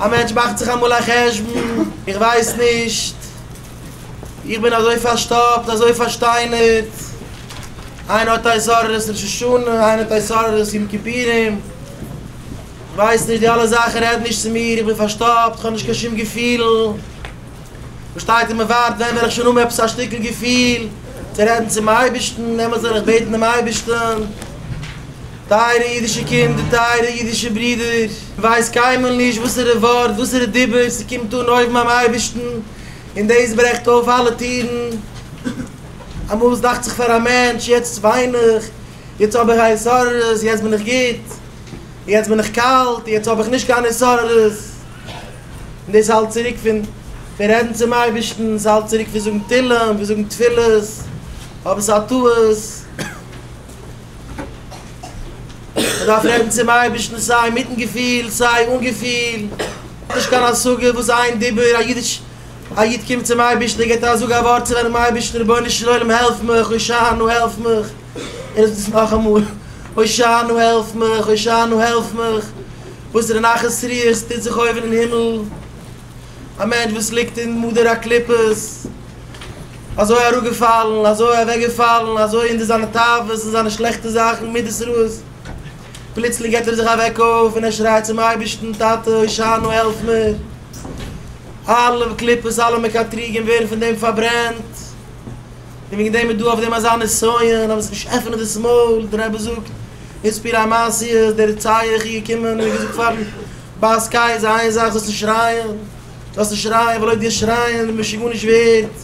א מענטש מאכט זיך אמאל א חשבון, איך ווייס נישט, איך בין אזוי פארשטאפט, אזוי פארשטיינערט, איינער האט עשרות ראש השנה, איינער האט עשרות יום כיפורים, איך ווייס נישט, די אלע זאכן רעדן נישט צו מיר, איך בין פארשטאפט, איך האב נישט קיין שום געפילן, מ'שטייט און מ'ווארט, ווען וועל איך שוין האבן עפעס א שטיקל געפיל, צו רעדן צום אייבערשטן, דעמאלטס וועל איך בעטן דעם אייבערשטן. טייערע אידישע קינדער, טייערע אידישע ברידער, כ'ווייס קיינמאל נישט וואסערע ווארט, וואסערע דיבור ס'קומט אן אויבן ביים אייבערשטן, און דאס ברעכט אויף אלע טירן. אמאל עס דאכט זיך פאר א מענטש, יעצט וויין איך, יעצט האב איך א התעוררות, יעצט בין איך גוט, און יעצט בין איך קאלט, יעצט האב איך נישט קיין התעוררות, און דאס האלט צוריק פון רעדן צום אייבערשטן, ס'האלט צוריק פון זאגן תהלים, פון זאגן תפילות, אבער ס'איז א טעות. מען דארף רעדן צום אייבערשטן סיי מיטן געפיל סיי אן געפיל, נישט קיין השגה וואס איין דיבור, א איד קומט צום אייבערשטן און געבט א זאג א ווארט צו זיינעם אייבערשטן רבונו של עולם העלף מיך, הושענו העלף מיך, ער זאגט עס נאכאמאל הושענו העלף מיך, הושענו העלף מיך, וואסערע נחת רוח ס'טוט זיך אויבן אין הימל. א מענטש וואס ליגט אין מדר הקליפות, אזוי אראפגעפאלן, אזוי אוועקגעפאלן, אזוי אין די זיינע תאוות און זיינע שלעכטע זאכן, מידות רעות, פלוצלינג געבט ער זיך א וועק אויף און ער שרייט צום אייבערשטן, טאטע הושענא העלף מיר, אלע קליפות, אלע מקטריגים ווערן פון דעם פארברענט, און וועגן דעם איז דא אויף דעם אזא נסיון, אז מען זאל נישט עפענען דאס מויל, דער רבי זאגט, איז פיר א מעשיות, דער רציח איז געקומען און געזאגט פארן. ביי סקיי איז איין זאך זאלסט נישט שרייען, זאלסט נישט שרייען ווייל אויב דו שרייען די משוגע נישט ווערט,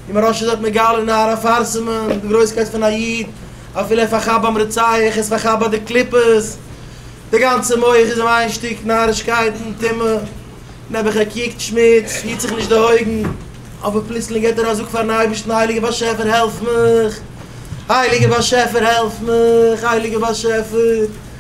און מראה ש דארט מגלה נהר אפרסמון די גרויסקייט פון א איד אפילו ער פארכאפט ביים רוצח ער איז פארכאפט ביי די קליפות די גאנצע מח איז אים איין שטיק נארישקייטן טומאה נעבעך ער קוקט שמוץ היט זיך נישט די אויגן אבער פלוצלינג געט ער א זאג פארן אייבערשטן הייליגער באשעפער העלף מיך הייליגער באשעפער העלף מיך הייליגער באשעפער.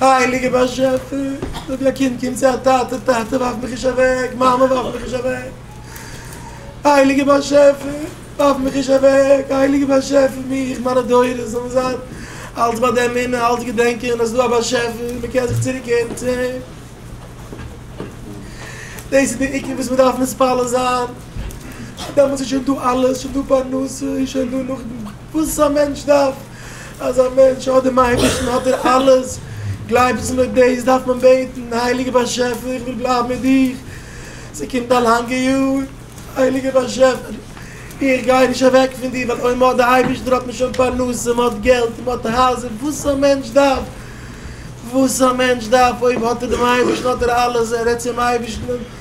הייליגער באשעפער, זאג ווי א קינד קומט צו א טאטע, טאטע ווארף מיך נישט אוועק, מאמע ווארף מיך נישט אוועק, הייליגער באשעפער, ווארף מיך נישט אוועק, הייליגער באשעפער, מיך, מיינע דורות, זאלן זיין אלץ ביי די אמונה, אלץ געדענקען אז עס איז דא א באשעפער, מען קען זיך צוריק קערן צו אים, דאס איז דער עיקר וואס מען דארף מתפלל זיין, דעמאלטס איז שוין דא אלעס, שוין דא פרנסה, שוין דא נאך וואס א מענטש דארף. אז א מענטש האט דעם אייבערשטן האט ער אלעס, גלייבסט מיר דאס דארף מען בעטן, הייליגער באשעפער איך וויל בלייבן מיט דיך, ס'קומט א לאנגע יאר, הייליגער באשעפער איך גיי נישט אוועק פון דיר, ווייל אויב מ'האט די אייבערשטער האט מען שוין פרנסה, מ'האט געלט, מ'האט הייזער, וואס א מענטש דארף, וואס א מענטש דארף, אויב האט ער דעם אייבערשטן האט ער אלעס, ער רעדט צום אייבערשטן.